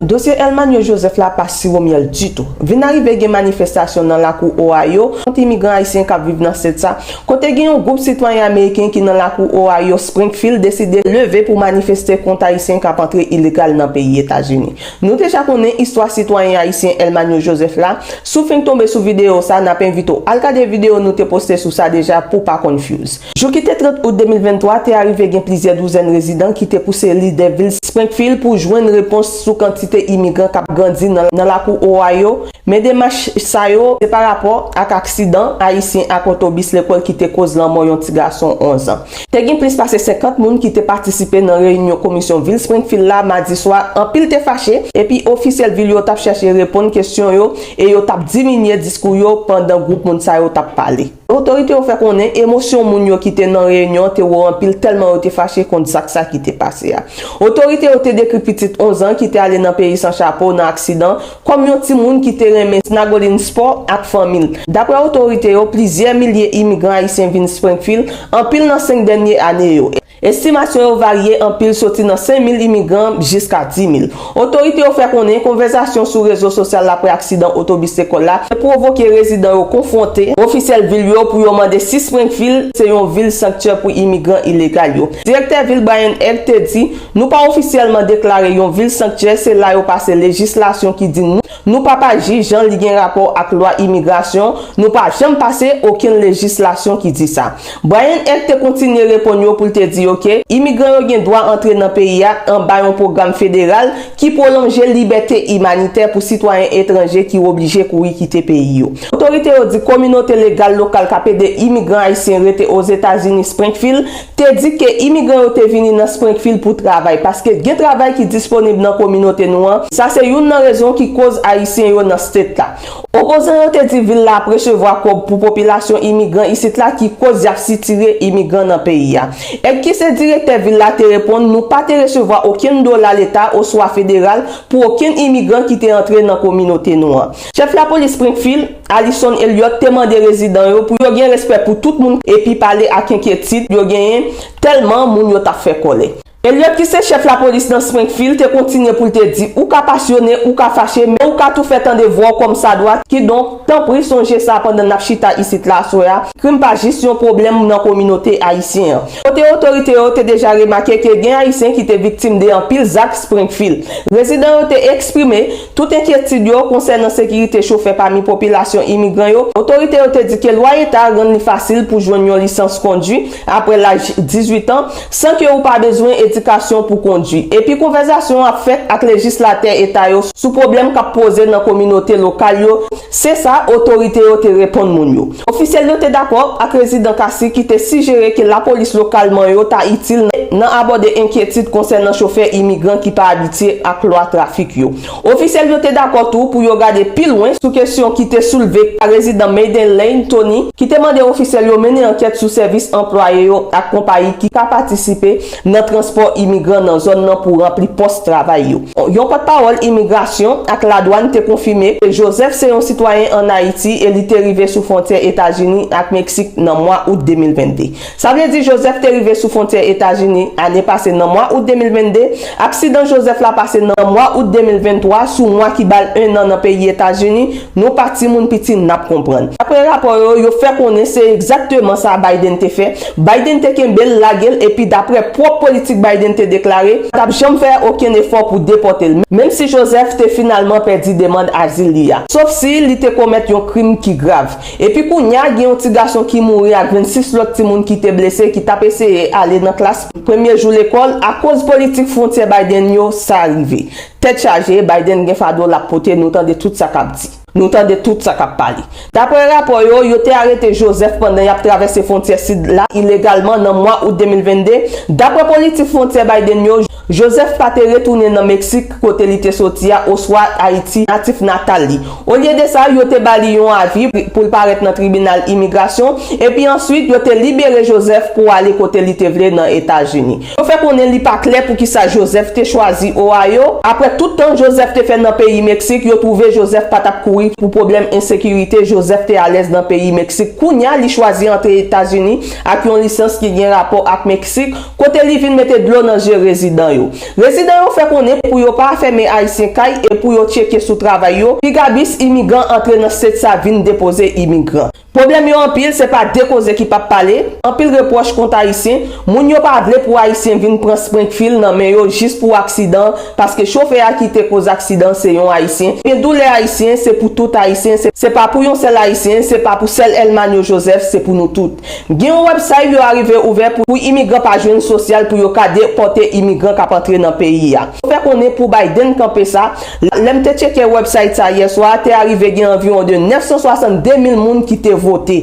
Dosye Elmanio Joseph la pa siwo myèl ditou. Vin a rive gen manifestasyon nan lakou Ohio kont imigran ayisyen k ap viv nan sèt sa, kote gen yon gwoup sitwayen ameriken ki nan lakou Ohio Springfield deside leve pou manifeste kont ayisyen k ap antre ilegal nan peyi Etazini. Nou deja konnen istwa sitwayen ayisyen Elmanio Joseph la, si w fenk tonbe sou videyo sa n ap envite w al gade videyo nou te poste sou sa deja pou w pa konfyouz. Jou ki te 30 out 2023, te arive gen plizyè douzèn rezidan ki te pouse lidè vil Springfield pou jwenn repons sou kantite imigran k ap grandi nan lakou Ohio, men demach sa yo se pa rapò ak aksidan Ayisyen ak otobis lekòl ki te koz lanmò yon ti gason 11 an. Te gen plis pase 50 moun ki te patisipe nan reyinyon komisyon vil Springfield la madi swa, anpil te fache, epi ofisyèl vil yo t ap chèche reponn kesyon yo e yo t ap diminye diskou yo pandan gwoup moun sa yo t ap pale. Otorite yo fè konnen emosyon moun yo ki te nan reyinyon an te wo anpil tèlman yo te fache kont zak sa ki te pase a. Otorite yo te dekri pitit 11 an ki te ale nan peyi san chapo nan aksidan an kòm yon timoun ki te renmen snagolin spò ak fanmi l. Daprè otorite yo, plizyè milye imigran ayisyen vin Springfield anpil nan 5 dènye ane yo, Estimasyon yo varye anpil soti nan 5 mil imigran jiska 10 mil. Otorite yo fè konnen konvèzasyon sou rezo sosyal aprè aksidan otobis lekòl la te pwovoke rezidan yo konfwonte ofisyèl vil yo pou yo mande si Springfield se yon vil sanktyè pou imigran ilegal yo. Direktè vil Brian Egg te di, Nou pa ofisyèlman deklare yon vil sanktyè, se la yo pase lejislasyon ki di nou Nou pa pa jij jan li gen rapò ak lwa imigrasyon, nou pa janm pase okenn lejislasyon ki di sa. Bryan Ed te kontinye reponn yo pou l te di yo ke imigran yo gen dwa antre nan peyi a anba yon pwogram federal ki pwolonje libète imanitè pou sitwayen etranje ki oblije kouri kite peyi yo. Otorite yo di kominote legal lokal k ap ede imigran ayisyen rete Ozetazini Springfield te di ke imigran yo te vini nan Springfield pou travay, paske gen travay ki disponib nan kominote nou an, sa se youn nan rezon ki koz Ayisyen yo nan state la. Opozan yo te di vil la ap resevwa kòb pou popilasyon imigran isit la ki koz yap sitire imigran nan peyi a. Ed ki se direktè vil la te reponn nou pa te resevwa okenn dola leta oswa federal pou okenn imigran ki te antre nan kominote nou an. Chèf lapolis Springfield, Alison Elliott te mande rezidan yo pou yo gen respè pou tout moun epi pale ak enkyetid yo genyen tèlman moun yo t ap fè kòlè. Elliott ki se chèf lapolis nan Springfield te kontinye pou l te di ou ka pasyone, ou ka fache men ou ka tou fè tande vwa w kòmsadwa kidonk tanpri sonje sa pandan n ap chita isit la aswè a, krim pa jis yon pwoblèm nan kominote ayisyen an. Kote otorite yo te deja remake ke gen ayisyen ki te viktim de anpil zak Springfield, rezidan yo te eksprime. Tout enkyetid yo konsènan sekirite chofè pami popilasyon imigran yo, otorite yo te di ke lwa eta a rann li fasil pou jwenn yon lisans kondwi apre laj 18 an, san ke ou pa bezwen edikasyon pou kondwi, epi konvèzasyon ap fèt ak lejislatè eta yo sou pwoblèm kap poze nan kominote lokal yo, se sa otorite yo te reponn moun yo. Ofisyèl yo te dakò ak rezidan Cassi ki te sijere ke lapolis lokal man yo ta itil nan abòde enkyetid konsènan chofè imigran ki pa abitye ak lwa trafik yo. Ofisyèl yo te dakò tou pou yo gade pi lwen sou kesyon ki te soulve pa rezidan Maiden Lane Tony ki te mande ofisyèl yo mennen ankèt sou sèvis anplwaye yo ak konpayi ki ka patisipe nan transpò imigran nan zòn nan pou ranpli pòs travay yo. Yon pòtpawòl imigrasyon ak ladwann te konfime ke Joseph se yon sitwayen ann Ayiti e li te rive sou fwontyè Etazini ak Meksik nan mwa out 2022. Sa vle di Joseph te rive sou fwontyè Etazini ane pase nan mwa out 2022. Aksidan Joseph la pase nan mwa out 2023 sou mwa ki ba l ennan nan peyi Etazini, nou pa timoun piti n ap konprann. Dapre rapò yo, yo fè konnen se egzakteman sa Biden te fè, Biden te kenbe l, lage l epi daprè pwòp politik Biden te deklare, pa t ap janm fè okenn efò pou depòte l, menm si Joseph te finalman pèdi demand azil li a, sof si li te komèt yon krim ki grav. Epi kounye a gen yon ti gason ki mouri ak 26 lòt timoun ki te blese ki t ap eseye ale nan klas premye jou lekòl, akoz politik fwontyè Biden yo, sa rive. Tèt chaje, Biden gen fado l ap pote, nou tande tout sa k ap di. Nou tande tout sa k ap pale. Daprè rapò yo, yo te arete Joseph pandan y ap travèse fwontyè sid la ilegalman nan mwa out 2022. Daprè politik fwontyè Biden yo, Joseph pa te retounen nan Meksik, kote li te soti a, oswa Ayiti, natif natal li. Olye de sa, yo te ba li yon avi pou l parèt nan tribinal imigrasyon, epi answit yo te libere Joseph pou ale kote li te vle nan Etazini. Yo fè konnen li pa klè poukisa Joseph te chwazi Ohio, aprè tout tan Joseph te fè nan peyi Meksik, yo twouve Joseph pa tap kouri pou pwoblèm ensekirite, Joseph te alèz nan peyi Meksik, kounya li chwazi antre Etazini ak yon lisans ki gen rapò ak Meksik, kote li vin mete dlo nan zye rezidan yo. Rezidan yo fè konnen pou yo pa afème Ayisyen kay e pou yo tcheke sou travay yo, piga bis imigan antre nan state sa vin depoze imigran. Pwoblèm yo anpil, se pa de koze ki pap pale, anpil repwòch kont Ayisyen, moun yo pa vle pou Ayisyen vin pran Springfield nan men yo jis pou aksidan paske chofè a ki te koz aksidan se yon Ayisyen, men doulè Ayisyen se pou tout Ayisyen, se pa pou yon sèl Ayisyen, se pa pou sèl Elmanio Joseph, se pou nou tout. Gen yon websayb yo arive ouvè pou pou imigran pa jwenn sosyal pou yo ka depòte imigran kap antre nan peyi a. Yo fè konnen pou Biden kanpe sa, Lè m te tcheke website sa yè swa, te arive gen anviwon de 962 mil moun ki te vote.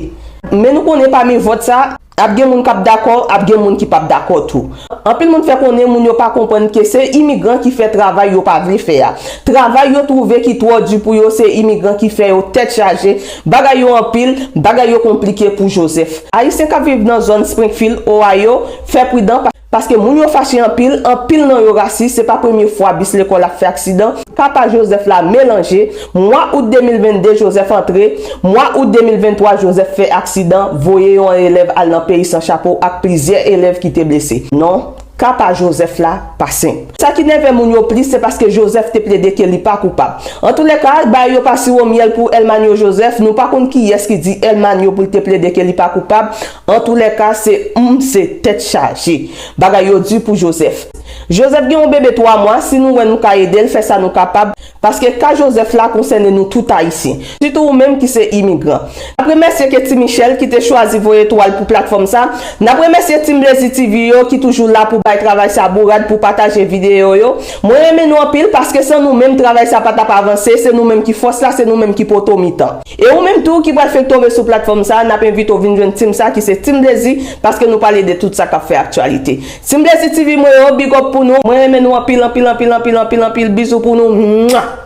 Men nou konnen pami vòt sa, ap gen moun k ap dakò, ap gen moun ki p ap dakò tou. Anpil moun fè konnen moun yo pa konprann ke se imigran ki fè travay yo pa vle fè a. Travay yo twouve ki twò di pou yo se imigran ki fè yo tèt chaje, bagay yo anpil, bagay yo konplike pou Joseph. Ayisyen k ap viv nan zòn Springfield, Ohio, fè pridan, Paske moun yo fache anpil, anpil nan yo rasis, se pa premye fwa bis lekòl ap fè aksidan, papa Joseph la melanje, mwa out 2022 Joseph antre, mwa out 2023 Joseph fè aksidan, voye yon elèv al nan peyi san chapo ak plizyè elèv ki te blese. Non, ka pa Joseph la pa senp. Sa ki nève moun yo plis se paske Joseph te plede ke li pa koupab. Antoulèka, bagay yo pa siwo myèl pou El Manyo Joseph, nou pa konn kiyès ki di El Manyo pou l te plede ke li pa koupab, Antoulèka se humm se tèt chaje. Bagay yo du pou Joseph. Joseph gen yon bebe 3 mwa si nou wè nou ka edel fè sa nou kapab paske ka Joseph la konsène nou tout ayisyen. Sitou ou menm ki se imigran. Nap remèsye Ketty Michel ki te chwazi voye twal pou platfòm sa. Nap remèsye team Blazy TV yo ki toujou la pou bay travay sa bourad pou pataje video yo. Mwen renmen nou anpil paske san nou menm travay sa pa tap avanse se nou menm ki fòs la se nou menm ki poto mitan. E ou menm tou ki pral fenk tonbe sou platfòm sa, nap envite w vin jwenn team sa ki se Team Blazy paske nou pale de tout sa kap fè aktyalite. Team Blazy TV mwen yo, big up pou nou, mwen renmen nou anpil anpil anpil anpil anpil anpil bizou pou nou mwah.